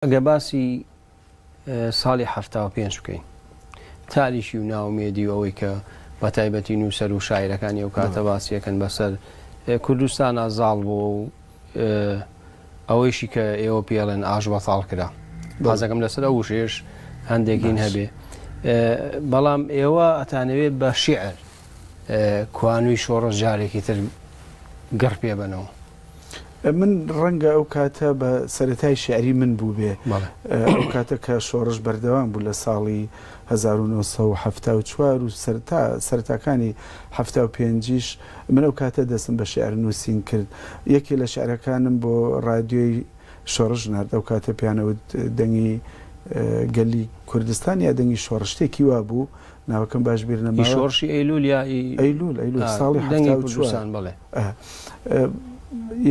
ئەگەر باسی ساڵی حەفتا و پێنج بکەین، تاریکی و نائومێدی و ئەوەی کە بە تایبەتی نووسەر و شاعیرەکانی ئەو کاتە باسی ئەکەن بە سەر کوردستانا زاڵ بووە و ئەوەیشی کە ئێوە پێی ئەڵێن ئاشبەتاڵ کرا. باز ئەکەم لەسەر ئەو وشەیەش هەندێک هین هەبێ. بەڵام ئێوە ئەتانەوێ بە شیعر کوانووی شۆڕش جارێکی تر گڕ پێ بەنەوە. من ڕەنگە ئەو کاتە بە سەرەتای شعری من بووبێ ئەو کاتە کە شۆڕش بەردەوام بوو لە ساڵی 1974 و سەرتا سەرتاکانی هەفتا و پێنجیش من ئەو کاتە دەستم بە شعر نووسین کرد یەکێ لە شعرەکانم بۆ ڕادیۆی شۆڕش نارد ئەو کاتە پیانەوت دەنگی گەلی کوردستان یا دەنگی شۆڕشتێکی وا بوو ناوەکەم باش بیر نەما شۆڕشی ئەیلول یا ئەیلول ئەیلول ساڵی دەنگی کوردستان بڵێ ئە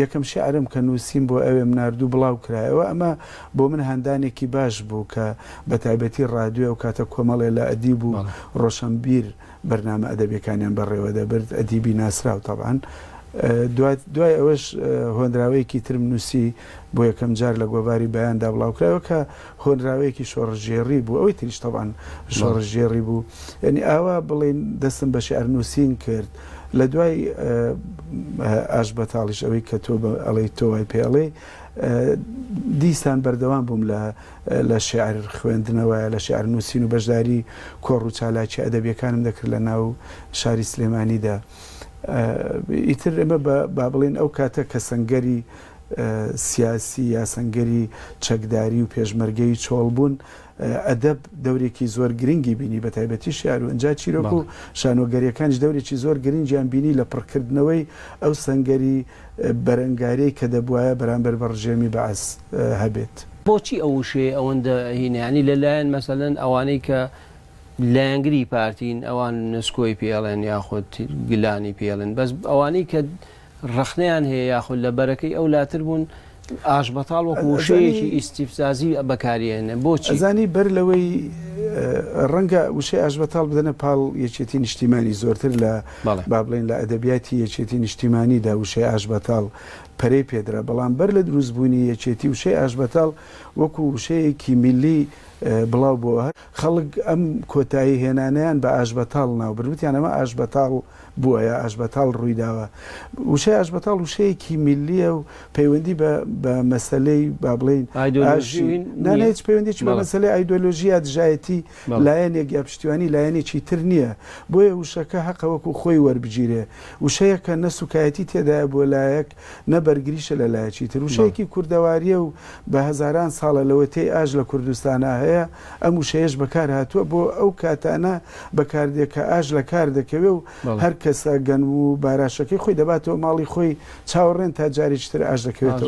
یەکەم شیعرم کە نووسیم بۆ ئەوێم ناردوو بڵاو کرایەوە ئەمە بۆ من هاندانێکی باش بوو کە بە تایبەتی ڕادوێ و کاتە کۆمەڵێ لە ئەدیب و ڕۆشەنبیر بەرنامە ئەدەبیەکانیان بەڕێوە دەبرد ئەدیبی ناسراو تەبعەن دوای ئەوەش هۆنراوەیەکی ترم نووسی بۆ یەکەم جار لە گۆڤاری بەیاندا بڵاو کرایەوە کە هۆنراوەیەکی شۆڕشگێڕی بوو ئەوەی تریش تەبعەن شۆڕشگێڕی بوو یانی ئاوا بڵێین دەستم بە شیعر نووسین کرد لە دوای ئاشبەتاڵیش ئەوەی کە تۆ ئەڵێی تۆ وای پێ ئەڵێی دیسان بەردەوام بووم لە شیعر خوێندنەوەیە لە شیعر نووسین و بەشداری کۆڕ و چالاکی ئەدەبیەکانم دەکرد لە ناو شاری سلێمانیدا ئیتر ئێمە با بڵێین ئەو کاتە کە سەنگەری سیاسی، یاسەنگەری چەکداری و پێشمەرگەیی چۆڵ بوون، ئەدەب دەورێکی زۆر گرنگی بینی بە تایبەتی شیعر و ئنجا چیرۆک و شانۆگەریەکانیش دەورێکی زۆر گرنگیان بینی لە پڕکردنەوەی ئەو سەنگەری بەرەنگاریەی کە دەبوایە بەرامبەر بە ڕژێمی بەعس هەبێت. بۆچی ئەو وشەیە ئەوەندە هینە یانی لە لایەن مەسەلەن ئەوانەی کە لایەنگری پارتین ئەوان نسکۆی پێ ئەڵێن یاخود گلانی پێ ئەڵێن بەس ئەوانەی کە ڕەخنەیان هەیە یاخود لە بەرەکەی ئەو لاتر بوون، ئاشبەتاڵ وەکو وشەیەکی ئیستیفزازی بەکاری ئەهێنن، بۆچی؟ ئەزانی بەر لەوەی ڕەنگە وشەی ئاشبەتاڵ بدەنە پاڵ یەکێتی نیشتیمانی زۆرتر لە با بڵێین لە ئەدەبیاتی یەکێتی نیشتیمانیدا وشەی ئاشبەتاڵ پەرەی پێدرا، بەڵام بەر لە دروست بوونی یەکێتی وشەی ئاشبەتاڵ وەکو وشەیەکی میللی بڵاو بۆوە، خەڵک ئەم کۆتایی هێنانەیان بە ئاشبەتاڵ ناو برد، وتیان ئەمە ئاشبەتاڵ. بووایە ئاشبەتاڵ ڕوویداوە. وشەی ئاشبەتاڵ وشەیەکی میللییە و پەیوەندی بە بە مەسەلەی با بڵێین ئاشی نا نا هیچ پەیوەندیەکی بە مەسەلەی ئایدۆلۆژی یا دژایەتی لایەنێک یا پشتیوانی لایەنێکی تر نییە بۆیە وشەکە هەقە وەکوو خۆی وەربگیرێ وشەیەکە نە سووکایەتی تێدایە بۆ لایەک نە بەرگریشە لە لایەکی تر. وشەیەکی کوردەوارییە و بە هەزاران ساڵە لەوەتەی ئاش لە کوردستانا هەیە، ئەم وشەیەش بەکار هاتووە بۆ ئەو کاتانە بەکار دێ کە ئاش لە کار دەکەوێ و هەر کەسە گەنم و باراشەکەی خۆی دەباتەوە ماڵی خۆی چاوەڕێن تا جارێکی تر ئاش دەکەوێتەوە.